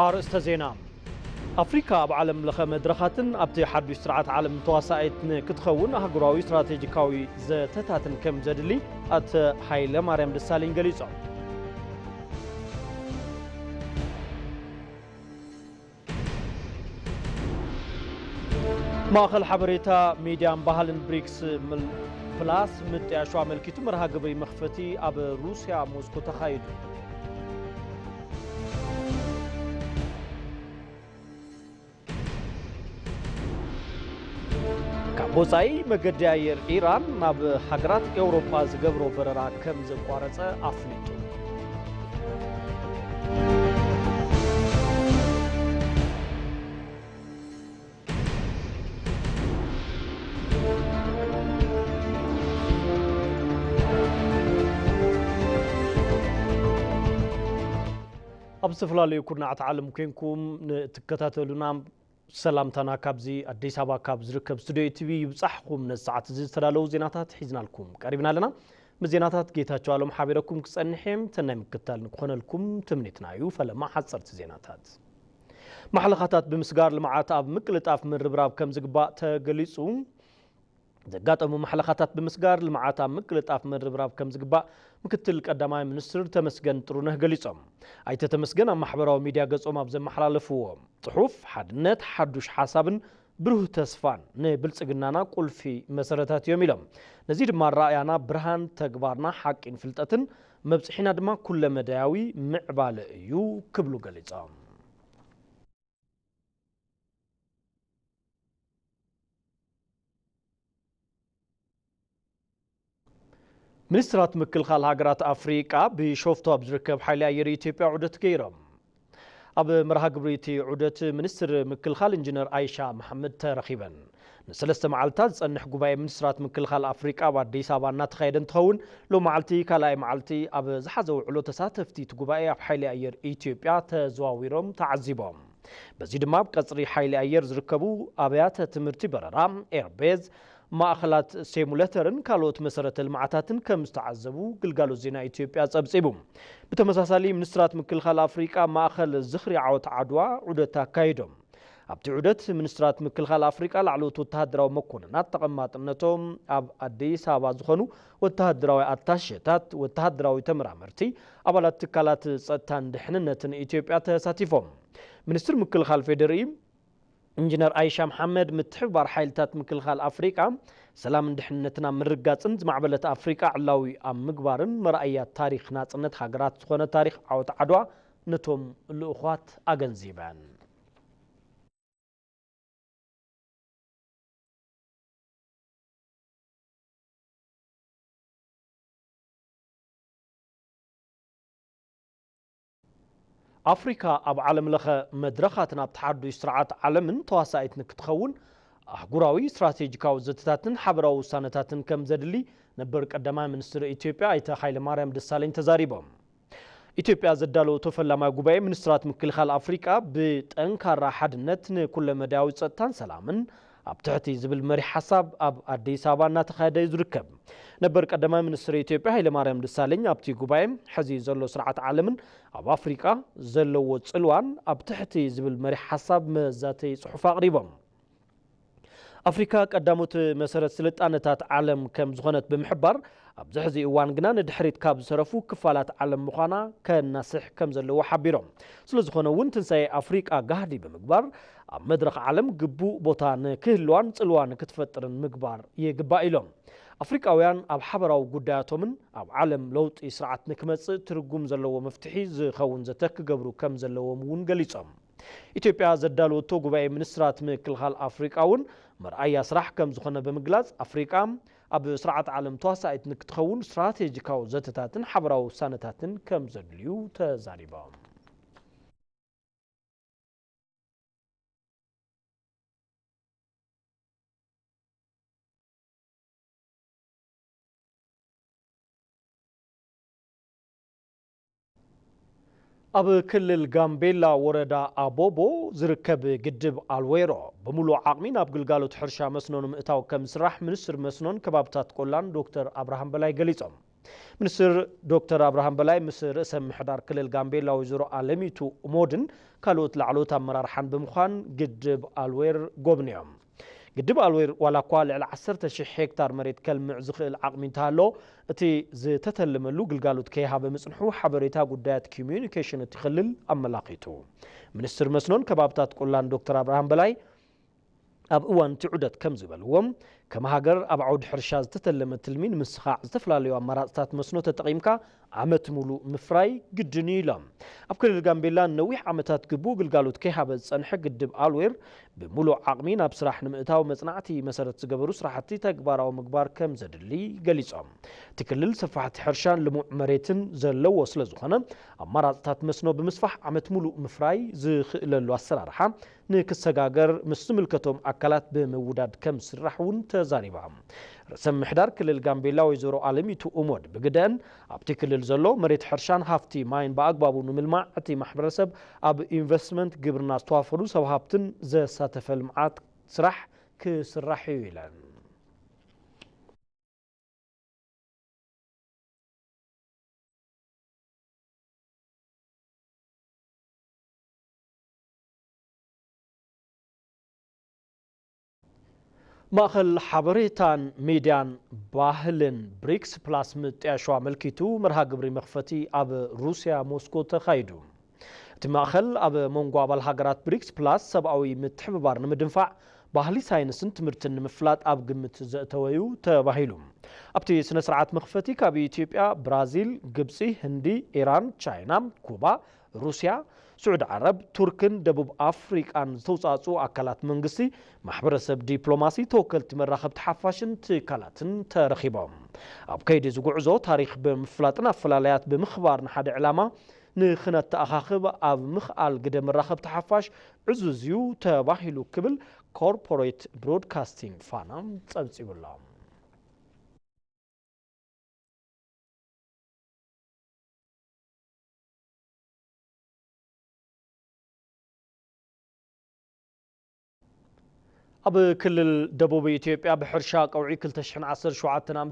ኣርእስተ ዜና፣ ኣፍሪካ ኣብ ዓለም ለኸ መድረኻትን ኣብቲ ሓዱሽ ስርዓት ዓለም ተዋሳኢት ንክትኸውን ኣህጉራዊ ስትራቴጂካዊ ዘተታትን ከም ዘድሊ ኣቶ ሃይለማርያም ደሳለኝ ገሊፆም። ማእኸል ሓበሬታ ሚድያን ባህልን ብሪክስ ፕላስ ምጥያሹ ኣመልኪቱ መርሃ ግብሪ መኽፈቲ ኣብ ሩስያ ሞስኮ ተኻይዱ። ካብ ወፃኢ መገዲ ኣየር ኢራን ናብ ሃገራት ኤውሮጳ ዝገብሮ በረራ ከም ዘቋረፀ ኣፍሊጡ። ኣብ ዝተፈላለዩ ኩርናዓት ዓለም ኮንኩም ንትከታተሉና ሰላምታና ካብዚ ኣዲስ ኣበባ ካብ ዝርከብ ስቱድዮ ኢቲቪ ይብጻሕኹም። ነዚ ሰዓት እዚ ዝተዳለዉ ዜናታት ሒዝናልኩም ቀሪብና ኣለና። ምስ ዜናታት ጌታቸው ኣሎም ሓቢረኩም ክጸንሕ እየ። ሰናይ ምክትታል ንክኾነልኩም ትምኒትና እዩ። ፈለማ ሓጸርቲ ዜናታት ማሕለኻታት ብምስጋር ልምዓት ኣብ ምቅልጣፍ ምርብራብ ከም ዝግባእ ተገሊጹ። ዘጋጠሙ ማሕለኻታት ብምስጋር ልምዓት ኣብ ምቅልጣፍ ምርብራብ ከምዝግባእ ምክትል ቀዳማይ ሚኒስትር ተመስገን ጥሩነህ ገሊፆም። ኣይተ ተመስገን ኣብ ማሕበራዊ ሚዲያ ገፆም ኣብ ዘመሓላለፍዎ ፅሑፍ፣ ሓድነት፣ ሓዱሽ ሓሳብን ብሩህ ተስፋን ንብልፅግናና ቁልፊ መሰረታት እዮም ኢሎም። ነዚ ድማ ኣረኣእያና ብርሃን፣ ተግባርና ሓቂን ፍልጠትን፣ መብፅሒና ድማ ኩለመዳያዊ ምዕባለ እዩ ክብሉ ገሊፆም። ሚኒስትራት ምክልኻል ሃገራት ኣፍሪቃ ቢሾፍቱ ኣብ ዝርከብ ሓይሊ ኣየር ኢትዮጵያ ዑደት ገይሮም። ኣብ መርሃ ግብሪ እቲ ዑደት ሚኒስትር ምክልኻል ኢንጂነር ኣይሻ መሓመድ ተረኺበን። ንሰለስተ መዓልታት ዝፀንሕ ጉባኤ ሚኒስትራት ምክልኻል ኣፍሪቃ ኣብ ኣዲስ ኣበባ እናተኻየደ እንትኸውን ሎማዕልቲ ካልኣይ መዓልቲ ኣብ ዝሓዘ ውዕሎ ተሳተፍቲ እቲ ጉባኤ ኣብ ሓይሊ ኣየር ኢትዮጵያ ተዘዋዊሮም ተዓዚቦም። በዚ ድማ ኣብ ቀፅሪ ሓይሊ ኣየር ዝርከቡ ኣብያተ ትምህርቲ በረራ፣ ኤርቤዝ፣ ማእኸላት ሴሙለተርን ካልኦት መሰረተ ልምዓታትን ከምዝተዓዘቡ ግልጋሎት ዜና ኢትዮጵያ ፀብፂቡ። ብተመሳሳሊ ሚኒስትራት ምክልኻል ኣፍሪቃ ኣብ ማእኸል ዝኽሪ ዓወት ዓድዋ ዑደት ኣካይዶም። ኣብቲ ዑደት ሚኒስትራት ምክልኻል ኣፍሪቃ፣ ላዕለዎት ወተሃደራዊ መኮንናት፣ ተቐማጥነቶም ኣብ ኣዲስ ኣበባ ዝኾኑ ወተሃደራዊ ኣታሼታት፣ ወተሃደራዊ ተመራመርቲ፣ ኣባላት ትካላት ጸጥታን ድሕንነትን ኢትዮጵያ ተሳቲፎም። ሚኒስትር ምክልኻል ፌዴሪኢ ኢንጂነር ኣይሻ መሓመድ ምትሕብባር ሓይልታት ምክልኻል ኣፍሪቃ ሰላምን ድሕንነትን ኣብ ምርግጋፅን ዝማዕበለት ኣፍሪቃ ዕላዊ ኣብ ምግባርን መርኣያ ታሪክ ናፅነት ሃገራት ዝኾነ ታሪክ ዓወት ዓድዋ ነቶም ልኡዃት ኣገንዚበን። ኣፍሪካ ኣብ ዓለም ለኸ መድረኻት ናብቲ ሓዱሽ ስርዓት ዓለምን ተዋሳኢት ንክትኸውን ኣህጉራዊ ስትራቴጂካዊ ዘተታትን ሓበራዊ ውሳነታትን ከም ዘድሊ ነበር ቀዳማይ ሚኒስትር ኢትዮጵያ ኣይተ ሃይለማርያም ደሳለኝ ተዛሪቦም። ኢትዮጵያ ዘዳለወቶ ፈላማይ ጉባኤ ሚኒስትራት ምክልኻል ኣፍሪቃ ብጠንካራ ሓድነት ንኩለመዳያዊ ፀጥታን ሰላምን ኣብ ትሕቲ ዝብል መሪሕ ሓሳብ ኣብ ኣዲስ ኣበባ እናተኻየደ እዩ ዝርከብ። ነበር ቀዳማይ ሚኒስትር ኢትዮጵያ ሃይለማርያም ደሳለኝ ኣብቲ ጉባኤ ሕዚ ዘሎ ስርዓት ዓለምን ኣብ ኣፍሪቃ ዘለዎ ፅልዋን ኣብ ትሕቲ ዝብል መሪሕ ሓሳብ መዛተዪ ፅሑፍ ኣቕሪቦም። ኣፍሪካ ቀዳሞት መሰረት ስልጣነታት ዓለም ከም ዝኾነት ብምሕባር፣ ኣብዚ ሕዚ እዋን ግና ንድሕሪት ካብ ዝተረፉ ክፋላት ዓለም ምዃና ከናስሕ ከም ዘለዎ ሓቢሮም። ስለዝኾነ እውን ትንሳኤ ኣፍሪቃ ጋህዲ ብምግባር ኣብ መድረኽ ዓለም ግቡእ ቦታ ንክህልዋን ፅልዋ ንክትፈጥርን ምግባር ይግባእ ኢሎም። ኣፍሪቃውያን ኣብ ሓበራዊ ጉዳያቶምን ኣብ ዓለም ለውጢ ስርዓት ንክመፅእ ትርጉም ዘለዎ መፍትሒ ዝኸውን ዘተ ክገብሩ ከም ዘለዎም እውን ገሊፆም። ኢትዮጵያ ዘዳለወቶ ጉባኤ ሚኒስትራት ምክልኻል ኣፍሪቃ እውን መርኣያ ስራሕ ከም ዝኾነ ብምግላፅ፣ ኣፍሪቃ ኣብ ስርዓተ ዓለም ተዋሳኢት ንክትኸውን ስትራቴጂካዊ ዘተታትን ሓበራዊ ውሳነታትን ከም ዘድልዩ ተዛሪቦም። ኣብ ክልል ጋምቤላ ወረዳ ኣቦቦ ዝርከብ ግድብ ኣልዌሮ ብምሉእ ዓቕሚ ናብ ግልጋሎት ሕርሻ መስኖ ንምእታው ከም ዝስራሕ ሚኒስትር መስኖን ከባብታት ቆላን ዶክተር ኣብርሃም በላይ ገሊፆም። ሚኒስትር ዶክተር ኣብርሃም በላይ ምስ ርእሰ ምሕዳር ክልል ጋምቤላ ወይዘሮ ኣለሚቱ እሞድን ካልኦት ላዕለዎት ኣመራርሓን ብምዃን ግድብ ኣልዌር ጎብንዮም። ግድብ ኣልዌር ዋላኳ ልዕሊ ዓሰርተ ሽሕ ሄክታር መሬት ከልምዕ ዝኽእል ዓቕሚ እንተሃለዎ እቲ ዝተተልመሉ ግልጋሎት ከይሃበ ምፅንሑ ሓበሬታ ጉዳያት ኪሙዩኒኬሽን እቲ ክልል ኣመላኺቱ። ሚኒስትር መስኖን ከባብታት ቆላን ዶክተር ኣብርሃም በላይ ኣብ እዋን እቲ ዑደት ከምዝበልዎ፣ ከም ሃገር ኣብ ዓውዲ ሕርሻ ዝተተለመ ትልሚ ንምስኻዕ ዝተፈላለዩ ኣማራፅታት መስኖ ተጠቒምካ ዓመት ሙሉእ ምፍራይ ግድን እዩ ኢሎም። ኣብ ክልል ጋምቤላ ንነዊሕ ዓመታት ግቡእ ግልጋሎት ከይሃበ ዝፀንሐ ግድብ ኣልዌር ብሙሉእ ዓቕሚ ናብ ስራሕ ንምእታው መፅናዕቲ መሰረት ዝገበሩ ስራሕቲ ተግባራዊ ምግባር ከምዘድሊ ገሊፆም። እቲ ክልል ሰፋሕቲ ሕርሻን ልሙዕ መሬትን ዘለዎ ስለዝኾነ ኣማራፅታት መስኖ ብምስፋሕ ዓመት ሙሉእ ምፍራይ ዝኽእለሉ ኣሰራርሓ ንክሰጋገር ምስ ዝምልከቶም ኣካላት ብምውዳድ ከምዝስራሕ እውን ተዛሪባ። ርእሰ ምምሕዳር ክልል ጋምቤላ ወይዘሮ ኣለሚቱ ኡሞድ ብግደኣን፣ ኣብቲ ክልል ዘሎ መሬት ሕርሻን ሃፍቲ ማይን ብኣግባቡ ንምልማዕ እቲ ማሕበረሰብ ኣብ ኢንቨስትመንት ግብርና ዝተዋፈሩ ሰብ ሃፍትን ዘሳተፈ ልምዓት ስራሕ ክስራሕ ኢዩ ኢለን። ማእኸል ሓበሬታን ሚድያን ባህልን ብሪክስ ፕላስ ምጥያሹ ኣመልኪቱ መርሃ ግብሪ መኽፈቲ ኣብ ሩስያ ሞስኮ ተኻይዱ። እቲ ማእኸል ኣብ መንጎ ኣባል ሃገራት ብሪክስ ፕላስ ሰብኣዊ ምትሕብባር ንምድንፋዕ ባህሊ ሳይንስን ትምህርትን ንምፍላጥ ኣብ ግምት ዘእተወ እዩ ተባሂሉ። ኣብቲ ስነ ስርዓት መኽፈቲ ካብ ኢትዮጵያ፣ ብራዚል፣ ግብፂ፣ ህንዲ፣ ኢራን፣ ቻይና፣ ኩባ፣ ሩስያ፣ ስዑዲ ዓረብ፣ ቱርክን ደቡብ ኣፍሪቃን ዝተውፃእፅኡ ኣካላት መንግስቲ፣ ማሕበረሰብ ዲፕሎማሲ፣ ተወከልቲ መራኸብቲ ሓፋሽን ትካላትን ተረኺቦም። ኣብ ከይዲ እዚ ጉዕዞ ታሪኽ ብምፍላጥን ኣፈላላያት ብምኽባር ንሓደ ዕላማ ንክነተኣኻኽብ ኣብ ምኽኣል ግደ መራኸብቲ ሓፋሽ ዕዙዝ እዩ ተባሂሉ ክብል ኮርፖሬት ብሮድካስቲንግ ፋና ፀብፂቡ ኣሎ። ኣብ ክልል ደቡብ ኢትዮጵያ ብሕርሻ ቀውዒ 217 ዓ ም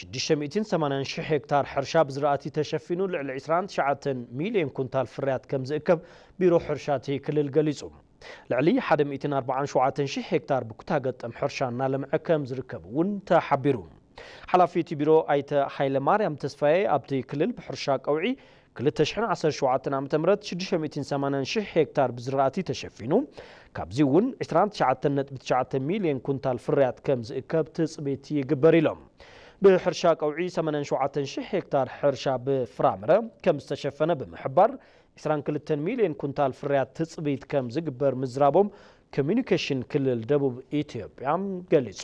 680,000 ሄክታር ሕርሻ ብዝራእቲ ተሸፊኑ ልዕሊ 29 ሚልዮን ኩንታል ፍርያት ከም ዝእከብ ቢሮ ሕርሻ እቲ ክልል ገሊጹ። ልዕሊ ሓደ ሚእትን ኣርባዓን ሸውዓተን ሽሕ ሄክታር ብኩታ ገጠም ሕርሻ እናለምዐ ከም ዝርከብ እውን ተሓቢሩ። ሓላፊ እቲ ቢሮ ኣይተ ሃይለማርያም ተስፋዬ ኣብቲ ክልል ብሕርሻ ቀውዒ ክልተ ሽሕን ዓሰርተ ሸውዓተን ዓመተ ምህረት ሽዱሽተ ሚእትን ሰማንያን ሽሕ ሄክታር ብዝራእቲ ተሸፊኑ ካብዚ እውን ዕስራን ትሽዓተን ነጥቢ ትሽዓተ ሚሊየን ኩንታል ፍርያት ከም ዝእከብ ትፅቢት ይግበር ኢሎም። ብሕርሻ ቀውዒ ሰማንያን ሸውዓተን ሽሕ ሄክታር ሕርሻ ብፍራምረ ከም ዝተሸፈነ ብምሕባር ዕስራን ክልተን ሚልዮን ኩንታል ፍርያት ትፅቢት ከም ዝግበር ምዝራቦም ኮሚዩኒኬሽን ክልል ደቡብ ኢትዮጵያ ገሊፁ።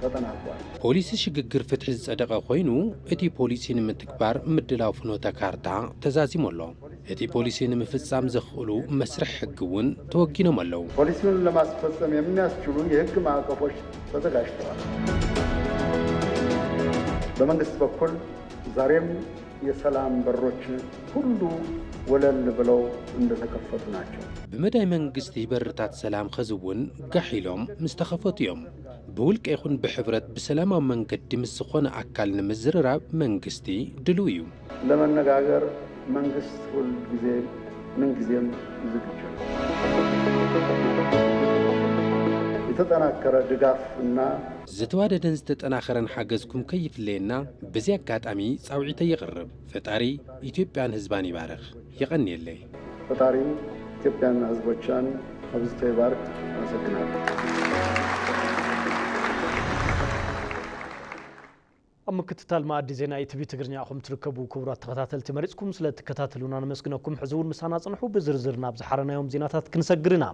ተጠናቋል። ፖሊሲ ሽግግር ፍትሒ ዝጸደቐ ኮይኑ እቲ ፖሊሲ ንምትግባር ምድላው ፍኖተ ካርታ ተዛዚሙ ኣሎ። እቲ ፖሊሲ ንምፍጻም ዘኽእሉ መስርሕ ሕጊ እውን ተወጊኖም ኣለዉ። ፖሊሲውን ለማስፈጸም የሚያስችሉ የሕግ ማዕቀፎች ተዘጋጅተዋል። በመንግስት በኩል ዛሬም የሰላም በሮች ሁሉ ወለል ብለው እንደተከፈቱ ናቸው። ብመዳይ መንግስቲ በርታት ሰላም ኸዚ እውን ጋሕ ኢሎም ምስተኸፈቱ እዮም። ብውልቀ ይኹን ብሕብረት ብሰላማዊ መንገዲ ምስ ዝኾነ ኣካል ንምዝርራብ መንግስቲ ድሉው እዩ። ለመነጋገር መንግስት ሁል ጊዜ ምን ጊዜም ዝግጁ ነው። የተጠናከረ ድጋፍ እና። ዝተዋደደን ዝተጠናኸረን ሓገዝኩም ከይፍለየና በዚ ኣጋጣሚ ፃውዒተይ የቕርብ። ፈጣሪ ኢትዮጵያን ህዝባን ይባርኽ። የቐንየለይ። ፈጣሪ ኢትዮጵያና ህዝቦቻን ኣብዝቶ ይባርክ ኣብ ምክትታል መኣዲ ዜና ኢቲቪ ትግርኛ ኢኹም ትርከቡ ክቡራት ተኸታተልቲ መሪፅኩም ስለ እትከታተሉና ነመስግነኩም ሕዚ እውን ምሳና ፅንሑ ብዝርዝር ናብ ዝሓረናዮም ዜናታት ክንሰግር ኢና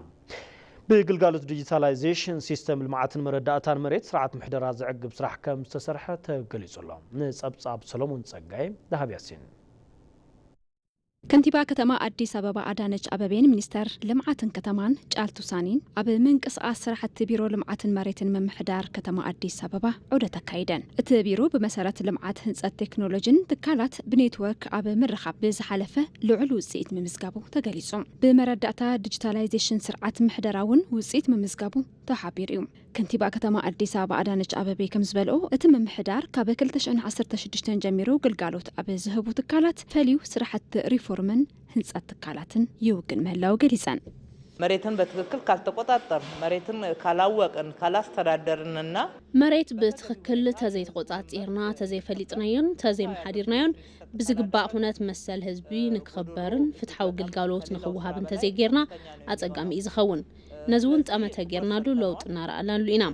ብግልጋሎት ዲጂታላይዜሽን ሲስተም ልምዓትን መረዳእታን መሬት ስርዓት ምሕደራ ዘዕግብ ስራሕ ከም ዝተሰርሐ ተገሊጹ ኣሎ ንፀብፃብ ሰሎሞን ፀጋይ ዳሃብ ያሲን ከንቲባ ከተማ ኣዲስ ኣበባ ኣዳነች ኣበቤን ሚኒስተር ልምዓትን ከተማን ጫልቱ ሳኒን ኣብ ምንቅስቓስ ስራሕቲ ቢሮ ልምዓትን መሬትን ምምሕዳር ከተማ ኣዲስ ኣበባ ዑደት ኣካይደን። እቲ ቢሩ ብመሰረት ልምዓት ህንፀት ቴክኖሎጂን ትካላት ብኔትወርክ ኣብ ምርኻብ ብዝሓለፈ ልዑል ውፅኢት ምምዝጋቡ ተገሊፁ። ብመረዳእታ ዲጂታላይዜሽን ስርዓት ምሕደራ እውን ውፅኢት ምምዝጋቡ ተሓቢሩ እዩ። ከንቲባ ከተማ ኣዲስ ኣበባ ኣዳነች ኣበቤ ከምዝበልኦ፣ እቲ ምምሕዳር ካብ ክልተ ሽሕን ዓሰርተ ሽዱሽተን ጀሚሩ ግልጋሎት ኣብ ዝህቡ ትካላት ፈልዩ ስራሕቲ ሪፎርምን ህንፀት ትካላትን ይውግን ምህላው ገሊፀን። መሬትን በትክክል ካልተቆፃፀርን፣ መሬትን ካላወቅን፣ ካላስተዳደርን እና። መሬት ብትኽክል ተዘይተቆፃፂርና፣ ተዘይፈሊጥናዮን ተዘይመሓዲርናዮን፣ ብዝግባእ ኩነት መሰል ህዝቢ ንክኽበርን ፍትሓዊ ግልጋሎት ንክወሃብን ተዘይገይርና ኣፀጋሚ እዩ ዝኸውን። ነዚ እውን ጠመተ ጌርናሉ ለውጢ እናረኣናሉ ኢና።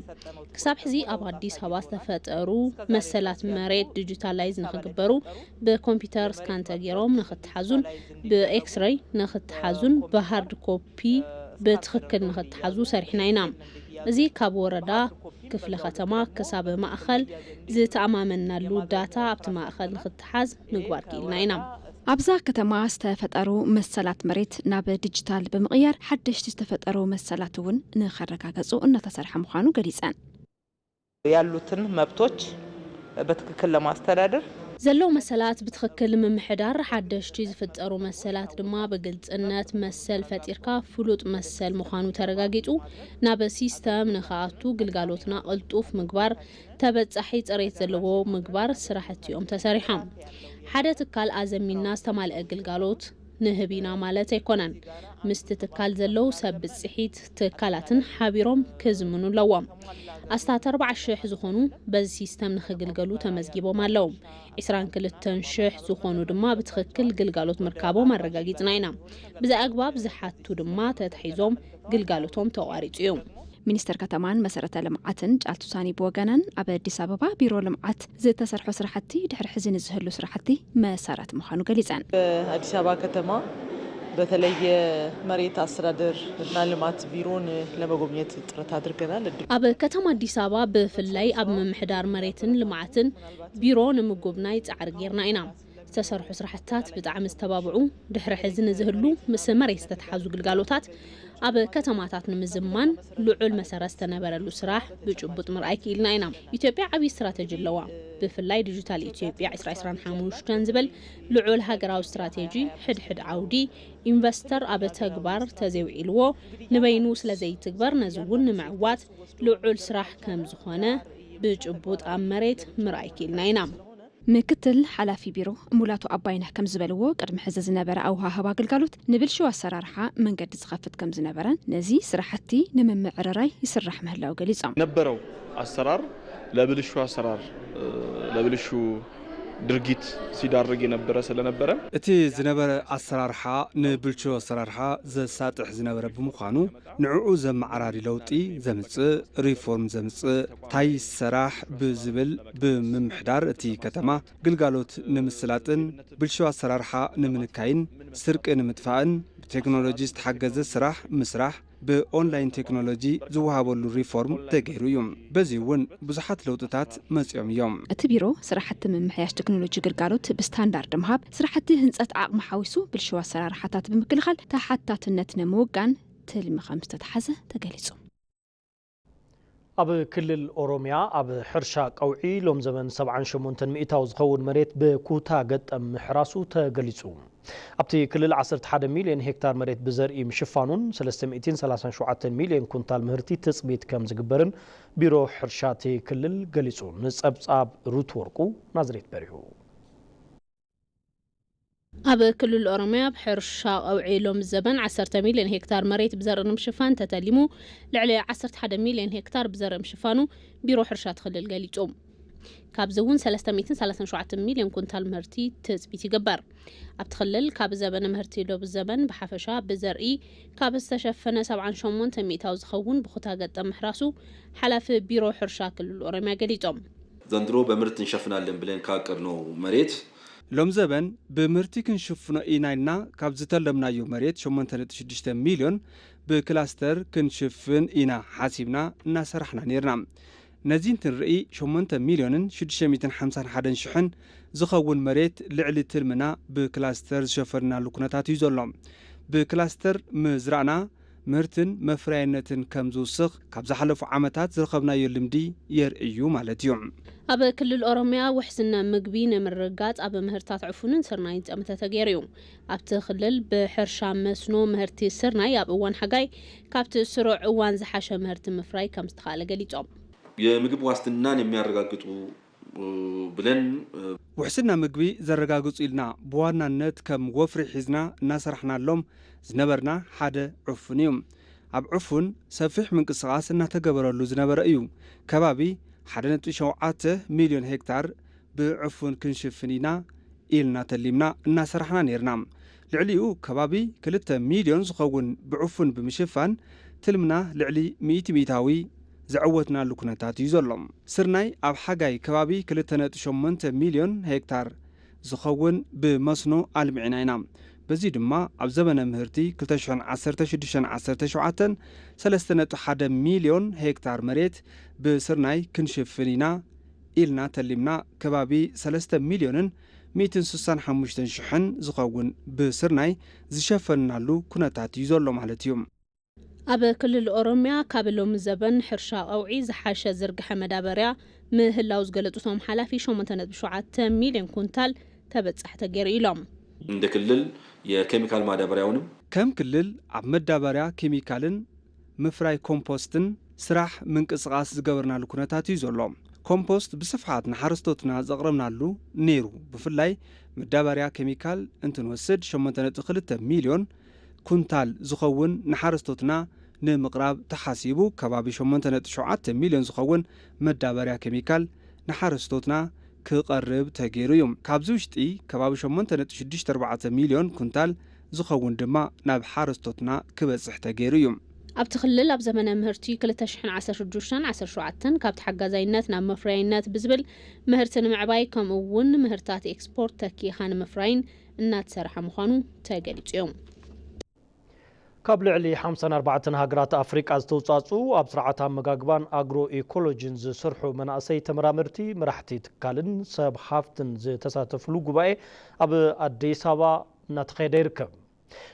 ክሳብ ሕዚ ኣብ ኣዲስ ኣበባ ዝተፈጠሩ መሰላት መሬት ዲጂታላይዝ ንክግበሩ ብኮምፒተር ስካን ተጌሮም ንክተሓዙን ብኤክስረይ ንክተሓዙን ብሃርድ ኮፒ ብትክክል ንክተሓዙ ሰሪሕና ኢና። እዚ ካብ ወረዳ ክፍለ ከተማ ክሳብ ማእኸል ዝተኣማመንናሉ ዳታ ኣብቲ ማእኸል ንክተ ክተሓዝ ምግባር ክኢልና ኢና። ኣብዛ ከተማ ዝተፈጠሩ መሰላት መሬት ናብ ዲጂታል ብምቕያር ሓደሽቲ ዝተፈጠሩ መሰላት እውን ንኸረጋገፁ እናተሰርሐ ምዃኑ ገሊፀን። ያሉትን መብቶች በትክክል ለማስተዳደር። ዘለዉ መሰላት ብትኽክል ምምሕዳር፣ ሓደሽቲ ዝፍጠሩ መሰላት ድማ ብግልፅነት መሰል ፈጢርካ ፍሉጥ መሰል ምዃኑ ተረጋጊፁ ናብ ሲስተም ንኸኣቱ ግልጋሎትና ቅልጡፍ ምግባር፣ ተበፃሒ ፅሬት ዘለዎ ምግባር ስራሕቲ ዮም ተሰሪሖም። ሓደ ትካል ኣዘሚንና ዝተማልኣ ግልጋሎት ንህብ ኢና ማለት ኣይኮነን። ምስቲ ትካል ዘለው ሰብ ብፅሒት ትካላትን ሓቢሮም ክዝምኑ ኣለዎም። ኣስታት ኣርባዓ ሽሕ ዝኾኑ በዚ ሲስተም ንክግልገሉ ተመዝጊቦም ኣለው። ዕስራን ክልተን ሽሕ ዝኾኑ ድማ ብትኽክል ግልጋሎት ምርካቦም ኣረጋጊፅና ኢና። ብዚ ኣግባብ ዝሓቱ ድማ ተታሒዞም ግልጋሎቶም ተቋሪፁ እዩ። ሚኒስትር ከተማን መሰረተ ልምዓትን ጫልቱ ሳኒ ብወገነን ኣብ ኣዲስ ኣበባ ቢሮ ልምዓት ዝተሰርሖ ስራሕቲ ድሕሪ ሕዚ ንዝህሉ ስራሕቲ መሰረት ምዃኑ ገሊፀን። ኣዲስ ኣበባ ከተማ በተለይ የመሬት ኣስተዳደር እና ልማት ቢሮን ለመጎብኘት ጥረት ኣድርገናል። ኣብ ከተማ ኣዲስ ኣበባ ብፍላይ ኣብ ምምሕዳር መሬትን ልምዓትን ቢሮ ንምጉብናይ ፃዕሪ ገይርና ኢና። ዝተሰርሑ ስራሕትታት ብጣዕሚ ዝተባብዑ ድሕሪ ሕዚ ንዝህሉ ምስ መሬት ዝተተሓዙ ግልጋሎታት ኣብ ከተማታት ንምዝማን ልዑል መሰረት ዝተነበረሉ ስራሕ ብጭቡጥ ምርኣይ ክኢልና ኢና። ኢትዮጵያ ዓብዪ ስትራተጂ ኣለዋ። ብፍላይ ዲጂታል ኢትዮጵያ ዕስራ ዕስራን ሓሙሽተን ዝብል ልዑል ሃገራዊ ስትራቴጂ ሕድሕድ ዓውዲ ኢንቨስተር ኣብ ተግባር ተዘይውዒልዎ ንበይኑ ስለዘይትግበር ነዚ እውን ንምዕዋት ልዑል ስራሕ ከምዝኾነ ብጭቡጥ ኣብ መሬት ምርኣይ ክኢልና ኢና። ምክትል ሓላፊ ቢሮ ሙላቱ ኣባይነህ ከምዝበልዎ፣ ቅድሚ ሕዚ ዝነበረ ኣወሃህባ ግልጋሎት ንብልሽው ኣሰራርሓ መንገዲ ዝኸፍት ከምዝነበረን ነዚ ስራሕቲ ንምምዕርራይ ይስራሕ ምህላው ገሊፆም። የነበረው ኣሰራር ለብልሹ ኣሰራር፣ ለብልሹ ድርጊት ሲዳርግ የነበረ ስለነበረ፣ እቲ ዝነበረ ኣሰራርሓ ንብልሽው ኣሰራርሓ ዘሳጥሕ ዝነበረ ብምዃኑ፣ ንዕኡ ዘመዓራሪ ለውጢ ዘምጽእ፣ ሪፎርም ዘምጽእ፣ ታይ ይሰራሕ ብዝብል ብምምሕዳር እቲ ከተማ ግልጋሎት ንምስላጥን ብልሽው ኣሰራርሓ ንምንካይን ስርቂ ንምጥፋእን ብቴክኖሎጂ ዝተሓገዘ ስራሕ ምስራሕ ብኦንላይን ቴክኖሎጂ ዝወሃበሉ ሪፎርም ተገይሩ እዩ። በዚ እውን ብዙሓት ለውጥታት መጺኦም እዮም። እቲ ቢሮ ስራሕቲ ምምሕያሽ ቴክኖሎጂ ግልጋሎት ብስታንዳርድ ምሃብ፣ ስራሕቲ ህንፀት ዓቕሚ ሓዊሱ ብልሽው ኣሰራርሓታት ብምክልኻል ተሓታትነት ንምውጋን ትልሚ ከምዝተትሓዘ ተገሊፁ። ኣብ ክልል ኦሮሚያ ኣብ ሕርሻ ቀውዒ ሎም ዘበን ሰብዓን ሸሞንተን ሚእታዊ ዝኸውን መሬት ብኩታ ገጠም ምሕራሱ ተገሊፁ። ኣብቲ ክልል ዓሰርተ ሓደ ሚልዮን ሄክታር መሬት ብዘርኢ ምሽፋኑን ሰለስተ ሚእትን ሰላሳን ሸውዓተን ሚልዮን ኩንታል ምህርቲ ትፅቢት ከም ዝግበርን ቢሮ ሕርሻ እቲ ክልል ገሊፁ። ንፀብፃብ ሩት ወርቁ ናዝሬት በሪሁ። ኣብ ክልል ኦሮሚያ ኣብ ሕርሻ ቀውዒ ሎሚ ዘበን ዓሰርተ ሚልዮን ሄክታር መሬት ብዘርኢ ንምሽፋን ተተሊሙ ልዕሊ ዓሰርተ ሓደ ሚልዮን ሄክታር ብዘርኢ ምሽፋኑ ቢሮ ሕርሻ እቲ ክልል ገሊጹ። ካብዚ እውን ሰለስተ ሚእትን ሰላሳን ሸውዓተን ሚልዮን ኩንታል ምህርቲ ትጽቢት ይግበር። ኣብቲ ክልል ካብ ዘበነ ምህርቲ ሎቢ ዘበን ብሓፈሻ ብዘርኢ ካብ ዝተሸፈነ ሰብዓን ሸሞንተን ሚእታዊ ዝኸውን ብኩታ ገጠም ምሕራሱ ሓላፊ ቢሮ ሕርሻ ክልል ኦሮሚያ ገሊጾም። ዘንድሮ በምህርት እንሸፍናለን ብለን ካቀድኖ መሬት። ሎምዘበን ብምህርቲ ክንሽፍኖ ኢና ኢልና ካብ ዝተለምናዮ መሬት ሸሞንተ ነጥቢ ሽዱሽተ ሚልዮን ብክላስተር ክንሽፍን ኢና ሓሲብና እናሰራሕና ነይርና። ነዚ እንትንርኢ ሸሞንተ ሚልዮንን ሽዱሽተ ሚእትን ሓምሳን ሓደን ሽሕን ዝኸውን መሬት ልዕሊ ትልምና ብክላስተር ዝሸፈንናሉ ኩነታት እዩ ዘሎ። ብክላስተር ምዝራእና። ምህርትን መፍረያይነትን ከም ዝውስኽ ካብ ዝሓለፉ ዓመታት ዝረኸብናዮ ልምዲ የርእይ እዩ ማለት እዩ። ኣብ ክልል ኦሮሚያ ውሕስነ ምግቢ ንምርግጋፅ ኣብ ምህርታት ዕፉንን ስርናይን ፀመተ ተገይሩ እዩ። ኣብቲ ክልል ብሕርሻ መስኖ ምህርቲ ስርናይ ኣብ እዋን ሓጋይ ካብቲ ስሩዕ እዋን ዝሓሸ ምህርቲ ምፍራይ ከምዝተኽኣለ ገሊፆም። የምግብ ዋስትናን የሚያረጋግጡ ብለን። ውሕስና ምግቢ ዘረጋግፁ ኢልና ብዋናነት ከም ወፍሪ ሒዝና እናሰራሕናሎም ዝነበርና ሓደ ዕፉን እዩ። ኣብ ዕፉን ሰፊሕ ምንቅስቓስ እናተገበረሉ ዝነበረ እዩ። ከባቢ ሓደ ነጥቢ ሸውዓተ ሚልዮን ሄክታር ብዕፉን ክንሽፍን ኢና ኢልና ተሊምና እናሰራሕና ነይርና። ልዕሊኡ ከባቢ ክልተ ሚልዮን ዝኸውን ብዕፉን ብምሽፋን ትልምና ልዕሊ ሚእቲ ሚኢታዊ ዘዐወትናሉ ኩነታት እዩ ዘሎ። ስርናይ ኣብ ሓጋይ ከባቢ ክልተ ነጥቢ ሸሞንተ ሚልዮን ሄክታር ዝኸውን ብመስኖ ኣልሚዕና ኢና። በዚ ድማ ኣብ ዘበነ ምህርቲ ክልተ ሽሕን ዓሰርተ ሽዱሽተን ዓሰርተ ሸውዓተን ሰለስተ ነጥቢ ሓደ ሚልዮን ሄክታር መሬት ብስርናይ ክንሽፍን ኢና ኢልና ተሊምና ከባቢ ሰለስተ ሚልዮንን ሚእትን ስሳን ሓሙሽተን ሽሕን ዝኸውን ብስርናይ ዝሸፈንናሉ ኩነታት እዩ ዘሎ ማለት እዩ። ኣብ ክልል ኦሮሚያ ካብ ሎሚ ዘበን ሕርሻ ቀውዒ ዝሓሸ ዝርግሐ መዳበርያ ምህላው ዝገለፁ እቶም ሓላፊ፣ ሸሞንተ ነጥቢ ሸውዓተ ሚሊየን ኩንታል ተበፃሒ ተገይሩ ኢሎም። እንደ ክልል የኬሚካል ማዳበርያውንም። ከም ክልል ኣብ መዳበርያ ኬሚካልን ምፍራይ ኮምፖስትን ስራሕ ምንቅስቓስ ዝገበርናሉ ኩነታት እዩ ዘሎ። ኮምፖስት ብስፍሓት ንሓረስቶትና ዘቕረብናሉ ነይሩ። ብፍላይ መዳበርያ ኬሚካል እንትንወስድ ሸሞንተ ነጥቢ ክልተ ሚልዮን ኩንታል ዝኸውን ንሓረስቶትና ንምቕራብ ተሓሲቡ ከባቢ ሸሞንተ ነጥቢ ሸውዓተ ሚልዮን ዝኸውን መዳበርያ ኬሚካል ንሓረስቶትና ክቐርብ ተገይሩ እዩ። ካብዚ ውሽጢ ከባቢ ሸሞንተ ነጥቢ ሽዱሽተ ኣርባዕተ ሚልዮን ኩንታል ዝኸውን ድማ ናብ ሓረስቶትና ክበፅሕ ተገይሩ እዩ። ኣብቲ ክልል ኣብ ዘመነ ምህርቲ ክልተ ሽሕን ዓሰርተ ሽዱሽተን፣ ዓሰርተ ሸውዓተን ካብ ተሓጋዛይነት ናብ መፍረያይነት ብዝብል ምህርቲ ንምዕባይ ከምኡ እውን ምህርታት ኤክስፖርት ተኪኢኻ ንምፍራይን እናተሰርሐ ምዃኑ ተገሊፁ እዩ። ካብ ልዕሊ ሓምሳን ኣርባዕተን ሃገራት ኣፍሪቃ ዝተውፃእፅኡ ኣብ ስርዓተ ኣመጋግባን ኣግሮ ኢኮሎጂን ዝስርሑ መናእሰይ ተመራመርቲ፣ መራሕቲ ትካልን ሰብ ሃፍትን ዝተሳተፍሉ ጉባኤ ኣብ ኣዲስ ኣበባ እናተኻየደ ይርከብ።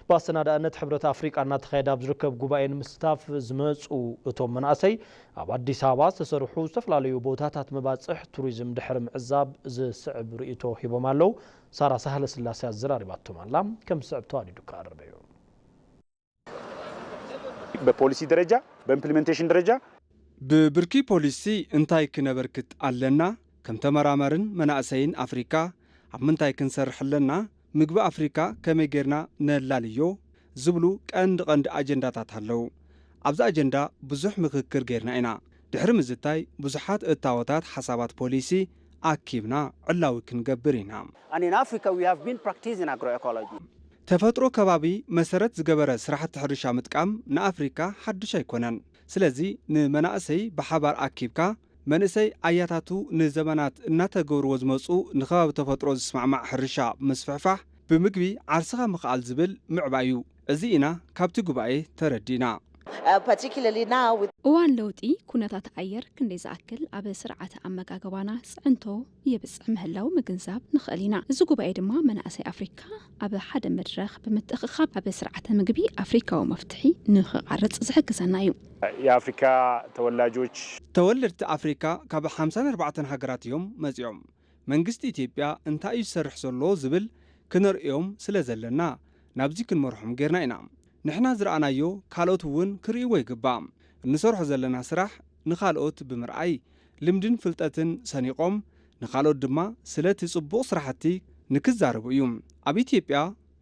ብኣሰናዳእነት ሕብረት ኣፍሪቃ እናተኻየደ ኣብ ዝርከብ ጉባኤ ንምስታፍ ዝመፁ እቶም መናእሰይ ኣብ ኣዲስ ኣበባ ዝተሰርሑ ዝተፈላለዩ ቦታታት መባፅሕ ቱሪዝም ድሕሪ ምዕዛብ ዝስዕብ ርኢቶ ሂቦም ኣለው። ሳራ ሳህለስላሴ ኣዘራሪባቶም ኣላ። ከም ዝስዕብ ተዋዲዱ ክቐርብ እዩ። በፖሊሲ ደረጃ በእምፕሊመንቴሽን ደረጃ። ብብርኪ ፖሊሲ እንታይ ክነበርክት ኣለና? ከም ተመራማርን መናእሰይን ኣፍሪካ ኣብ ምንታይ ክንሰርሕ ኣለና? ምግቢ ኣፍሪካ ከመይ ገይርና ነላልዮ? ዝብሉ ቀንዲ ቀንዲ ኣጀንዳታት ኣለው። ኣብዚ ኣጀንዳ ብዙሕ ምኽክር ገይርና ኢና። ድሕሪ ምዝታይ ብዙሓት እታወታት ሓሳባት ፖሊሲ ኣኪብና ዕላዊ ክንገብር ኢና። ተፈጥሮ ከባቢ መሰረት ዝገበረ ስራሕቲ ሕርሻ ምጥቃም ንኣፍሪካ ሓዱሽ ኣይኮነን። ስለዚ ንመናእሰይ ብሓባር ኣኪብካ፣ መንእሰይ ኣያታቱ ንዘበናት እናተገብርዎ ዝመፅኡ ንከባቢ ተፈጥሮ ዝስማዕማዕ ሕርሻ ምስፍሕፋሕ፣ ብምግቢ ዓርስኻ ምኽኣል ዝብል ምዕባይ ዩ። እዚ ኢና ካብቲ ጉባኤ ተረዲእና። እዋን ለውጢ ኩነታት ኣየር ክንደይ ዝኣክል ኣብ ስርዓተ ኣመጋግባና ፅዕንቶ የብጽሕ ምህላዉ ምግንዛብ ንኽእል ኢና። እዚ ጉባኤ ድማ መናእሰይ ኣፍሪካ ኣብ ሓደ መድረኽ ብምትእኽኻብ ኣብ ስርዓተ ምግቢ ኣፍሪካዊ መፍትሒ ንኽቐርፅ ዝሕግዘና እዩ። የኣፍሪካ ተወላጆች። ተወለድቲ ኣፍሪካ ካብ ሓምሳን ኣርባዕተን ሃገራት እዮም መፂኦም። መንግስቲ ኢትዮጵያ እንታይ እዩ ዝሰርሕ ዘሎ ዝብል ክነርእዮም ስለዘለና ናብዚ ክንመርሖም ገይርና ኢና። ንሕና ዝረኣናዮ ካልኦት እውን ክርእይዎ ይግባእ። እንሰርሖ ዘለና ስራሕ ንኻልኦት ብምርኣይ ልምድን ፍልጠትን ሰኒቖም ንኻልኦት ድማ ስለቲ ፅቡቕ ስራሕቲ ንክዛረቡ እዩ። ኣብ ኢትዮጵያ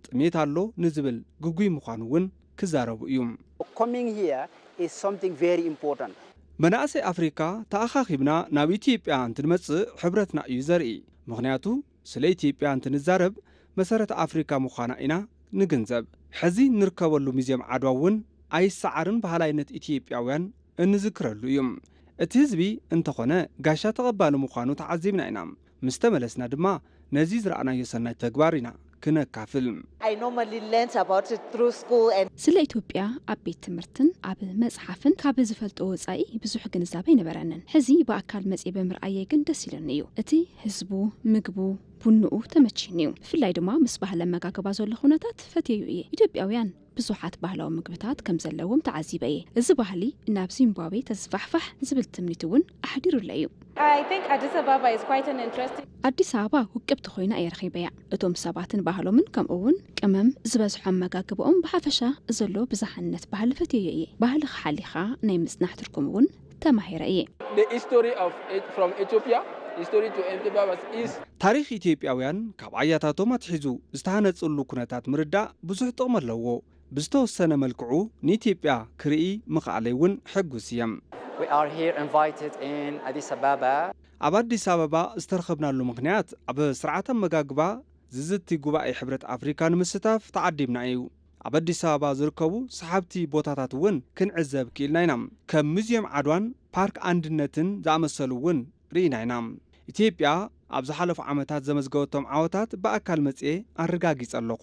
ጥሜት ኣሎ ንዝብል ግጉይ ምዃኑ እውን ክዛረቡ እዩ። Coming here is something very important. መናእሰይ ኣፍሪካ ተኣኻኺብና ናብ ኢትዮጵያ እንትንመፅእ ሕብረትና እዩ ዘርኢ። ምኽንያቱ ስለ ኢትዮጵያ እንትንዛረብ መሰረት ኣፍሪካ ምዃና ኢና ንግንዘብ። ሕዚ ንርከበሉ ሚዜም ዓድዋ እውን ኣይሰዓርን በሃላይነት ኢትዮጵያውያን እንዝክረሉ እዩ። እቲ ህዝቢ እንተኾነ ጋሻ ተቐባሊ ምዃኑ ተዓዚብና ኢና። ምስ ተመለስና ድማ ነዚ ዝረኣናዮ ሰናይ ተግባር ኢና ክነካፍል። ስለ ኢትዮጵያ ኣብ ቤት ትምህርትን ኣብ መፅሓፍን ካብ ዝፈልጦ ወፃኢ ብዙሕ ግንዛበ ኣይነበረንን። ሕዚ ብኣካል መፅየ ብምርኣየይ ግን ደስ ኢሉኒ እዩ። እቲ ህዝቡ፣ ምግቡ፣ ቡንኡ ተመችዩኒ እዩ። ብፍላይ ድማ ምስ ባህሊ ኣመጋግባ ዘሎ ኩነታት ፈትየዩ እየ። ኢትዮጵያውያን ብዙሓት ባህላዊ ምግብታት ከም ዘለዎም ተዓዚበ እየ። እዚ ባህሊ ናብ ዚምባብዌ ተዝፋሕፋሕ ዝብል ትምኒት እውን ኣሕዲሩለይ እዩ። ኣዲስ ኣበባ ውቅብቲ ኮይና እየ ረኺበያ። እቶም ሰባትን ባህሎምን ከምኡ እውን ቅመም ዝበዝሖ ኣመጋግባኦም ብሓፈሻ ዘሎ ብዝሓነት ባህሊ ፈትየዮ እየ። ባህልኻ ሓሊኻ ናይ ምፅናሕ ትርጉም እውን ተማሂረ እየ። The history of Eth from Ethiopia history to Ethiopia was is. ታሪኽ ኢትዮጵያውያን ካብ ኣያታቶም ኣትሒዙ ዝተሃነጽሉ ኩነታት ምርዳእ ብዙሕ ጥቕሚ ኣለዎ። ብዝተወሰነ መልክዑ ንኢትዮጵያ ክርኢ ምኽኣለይ እውን ሕጉስ እየ። We are here invited in Addis Ababa. ኣብ ኣዲስ ኣበባ ዝተረኸብናሉ ምኽንያት ኣብ ስርዓት ኣመጋግባ ዝዝቲ ጉባኤ ሕብረት ኣፍሪካ ንምስታፍ ተዓዲምና እዩ። ኣብ ኣዲስ ኣበባ ዝርከቡ ሰሓብቲ ቦታታት እውን ክንዕዘብ ክኢልና ኢና። ከም ሙዚየም ዓድዋን ፓርክ ኣንድነትን ዝኣመሰሉ እውን ርኢና ኢና። ኢትዮጵያ ኣብ ዝሓለፉ ዓመታት ዘመዝገበቶም ዓወታት ብኣካል መፂኤ ኣረጋጊፀ ኣለኹ።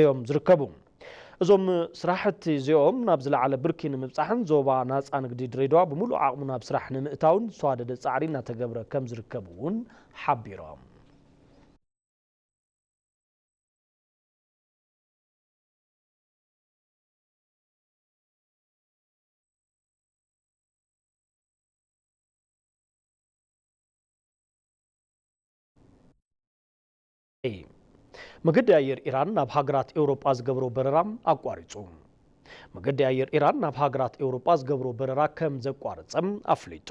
እዮም ዝርከቡ። እዞም ስራሕቲ እዚኦም ናብ ዝለዓለ ብርኪ ንምብፃሕን ዞባ ናፃ ንግዲ ድሬዳዋ ብሙሉእ ዓቕሙ ናብ ስራሕ ንምእታውን ዝተዋደደ ፃዕሪ እናተገብረ ከምዝርከብ እውን ሓቢሮም። ii። መገዲ ኣየር ኢራን ናብ ሃገራት ኤውሮጳ ዝገብሮ በረራ ኣቋሪጹ። መገዲ ኣየር ኢራን ናብ ሃገራት ኤውሮጳ ዝገብሮ በረራ ከም ዘቋረጸ ኣፍሊጡ።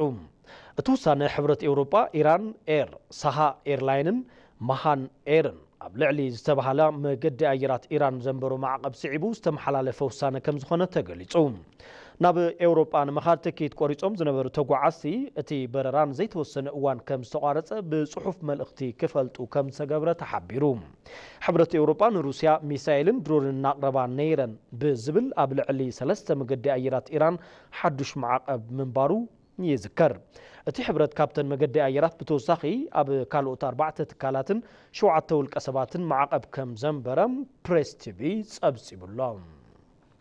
እቲ ውሳነ ሕብረት ኤውሮጳ፣ ኢራን ኤር፣ ሳሃ ኤርላይንን ማሃን ኤርን ኣብ ልዕሊ ዝተባህላ መገዲ ኣየራት ኢራን ዘንበሮ ማዕቐብ ስዒቡ ዝተመሓላለፈ ውሳነ ከም ዝኾነ ተገሊጹ። ናብ ኤውሮጳ ንምኻድ ትኬት ቆሪጾም ዝነበሩ ተጓዓዝቲ፣ እቲ በረራ ንዘይተወሰነ እዋን ከም ዝተቋረጸ ብጽሑፍ መልእኽቲ ክፈልጡ ከም ዝተገብረ ተሓቢሩ። ሕብረት ኤውሮጳ ንሩስያ ሚሳይልን ድሮንን እናቕረባ ነይረን ብዝብል ኣብ ልዕሊ ሰለስተ መገዲ ኣየራት ኢራን ሓዱሽ ማዕቐብ ምንባሩ ይዝከር። እቲ ሕብረት ካብተን መገዲ ኣየራት ብተወሳኺ ኣብ ካልኦት ኣርባዕተ ትካላትን ሸውዓተ ውልቀሰባትን ማዕቐብ ከም ዘንበረ ፕሬስ ቲቪ ጸብጺቡ'ሎ።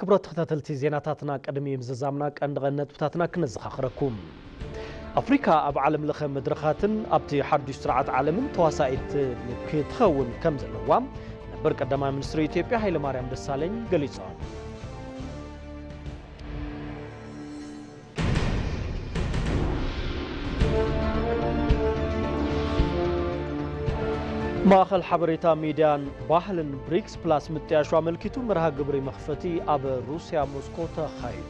ክብራት ተኸታተልቲ ዜናታትና ቅድሚ ምዝዛምና ቀንዲ ቀንዲ ነጥብታትና ክነዘኻኽረኩም። ኣፍሪካ ኣብ ዓለም ለኸ መድረኻትን ኣብቲ ሓዱሽ ስርዓት ዓለምን ተዋሳኢት ክትኸውን ከም ዘለዋ ነበር ቀዳማይ ሚኒስትር ኢትዮጵያ ሃይለማርያም ደሳለኝ ገሊፆም። ማእኸል ሓበሬታ ሚድያን ባህልን ብሪክስ ፕላስ ምጥያሹ ኣመልኪቱ መርሃ ግብሪ መኽፈቲ ኣብ ሩስያ ሞስኮ ተኻይዱ።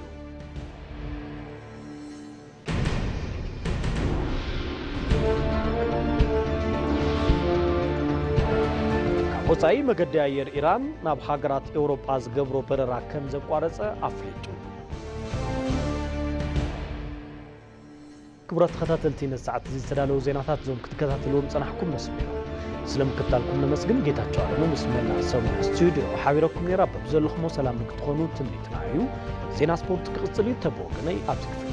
ካብ ወፃኢ መገዲ ኣየር ኢራን ናብ ሃገራት ኤውሮጳ ዝገብሮ በረራ ከም ዘቋረፀ ኣፍሊጡ። ክቡራት ተኸታተልቲ ነዚ ሰዓት እዚ ዝተዳለዉ ዜናታት እዞም ክትከታተልዎም ዝጸናሕኩም መስሉ እዮም ስለ ምክትታልኩም ነመስግን ጌታቸው ኣለሙ ምስ መላእ ሰሙያ ስቱድዮ ሓቢረኩም ነራ በብዘለኹሞ ሰላም ንክትኾኑ ትምኒትና እዩ ዜና ስፖርት ክቕጽል እዩ ተብወገነይ ኣብዚ ክፍለ